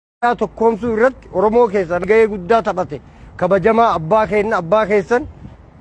Oromiyaa tokkoomsuu irratti Oromoo keessan gahee guddaa taphate kabajamaa abbaa keenna abbaa keessan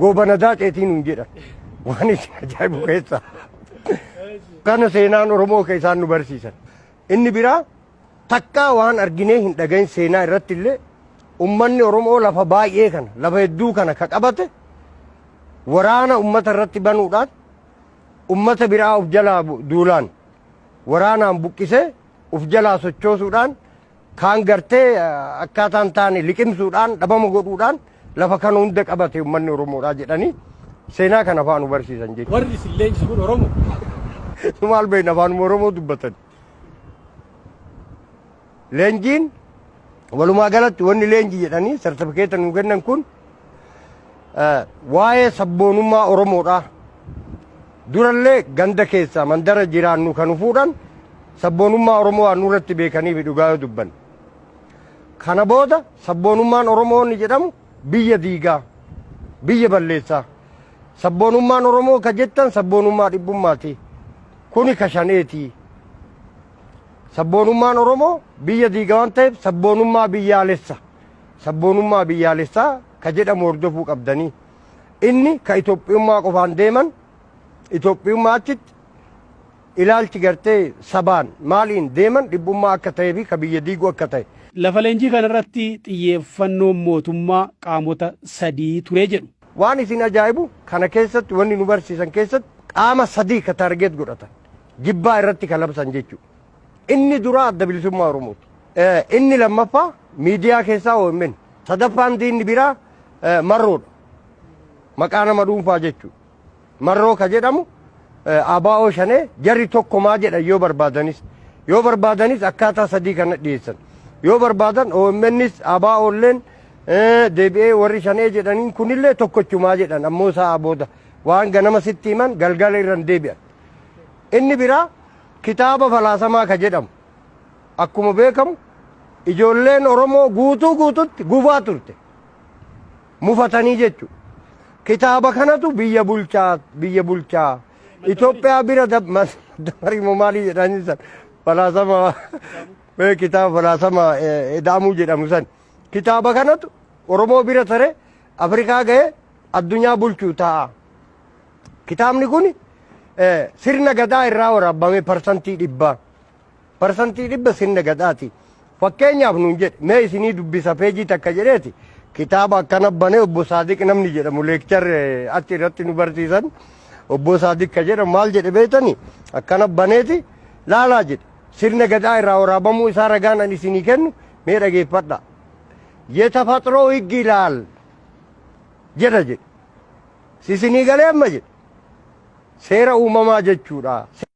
goobana daaceetii nuun jedhan waan isin ajaa'ibu keessa kana seenaan Oromoo ka isaan nu barsiisan inni biraa takkaa waan arginee hin dhagahin seenaa irratti illee ummanni Oromoo lafa baay'ee kana lafa hedduu kana ka qabate waraana ummata irratti banuudhaan ummata biraa of jalaa bu- duulaan waraanaan buqqisee uf jalaa sochoosuudhaan kaan gartee akkaataa hin taane liqimsuudhaan dhabama godhuudhaan lafa kana hunda qabate ummanni Oromoodhaa jedhanii seenaa kana faanu barsiisan jechuudha. Warri isin leenjise kun Oromoo? Maal beekna afaanuma Oromoo dubbatan. Leenjiin walumaa galatti wanni leenji jedhanii sartifikeeta nuu kennan kun Waa'ee sabboonummaa Oromoodhaa. Durallee ganda keessaa mandara jiraannu kan fuudhan sabboonummaa Oromoo waan nurratti beekaniif dhugaa yoo dubbanne. Kana booda sabboonummaan Oromoo inni jedhamu biyya diigaa, biyya balleessaa. Sabboonummaan Oromoo ka jettan sabboonummaa dhibbummaati. Kuni ka shaneeti. Sabboonummaan Oromoo biyya diiga waan ta'eef sabboonummaa biyyaalessa. Sabboonummaa biyyaalessaa ka jedhamu hordofuu qabdanii. Inni ka Itoophiyummaa qofaan deeman Itoophiyummaa achitti ilaalchi gartee sabaan maaliin deeman dhibbummaa akka ta'ee fi ka biyya diigu akka ta'e. Lafa leenjii kana irratti xiyyeeffannoon mootummaa qaamota sadii ture jedhu. Waan isin ajaa'ibu kana keessatti wanni nu barsiisan keessatti qaama sadii ka target godhatan. Jibbaa irratti ka labsan jechuudha. Inni duraa Adda Bilisummaa Oromooti. Inni lammaffaa miidiyaa keessaa omn. Sadaffaan diinni biraa Marroodha. Maqaa nama dhuunfaa jechuudha. Marroo ka jedhamu ABO shanee jarri tokkumaa jedhan yoo barbaadanis. Yoo barbaadanis akkaataa sadii kana dhiyeessan. Yoo barbaadan OMNs ABOlleen deebi'ee warri shanee jedhaniin kunillee tokkochumaa jedhan ammoo isaa booda waan ganama sitti himan galgala irra hin deebi'an. Inni biraa Kitaaba Falaasamaa ka jedhamu akkuma beekamu ijoolleen Oromoo guutuu guututti gubaa turte. Mufatanii jechu. Kitaaba kanatu biyya bulchaa biyya bulchaa Itoophiyaa bira dab- mas- dabarii moo maalii jedhanii san falaasama mee kitaaba falaasama eh, Eda'amuu jedhamu san. Kitaaba kanatu Oromoo bira tare Afrikaa ga'ee addunyaa bulchuu ta'a. Kitaabni kun sirna gadaa irraa waraabame parsantii dhibbaa. Parsantii dhibba sirna gadaati. Fakkeenyaaf nuun jedhe mee isinii dubbisa peejii takka jedheeti kitaaba akkana banee obbo Saadiq namni jedhamu leekchar achi irratti nu barsiisan obbo Saadiq ka jedhamu maal jedhe beektani akkana baneeti laalaa jedhe sirna gadaa irraa waraabamuu isaa ragaan an isinii kennu mee dhageeffadha. Yetafaxroo higgi ilaal jedha jedhe. Isinii galee amma jedhe seera uumamaa jechuudha.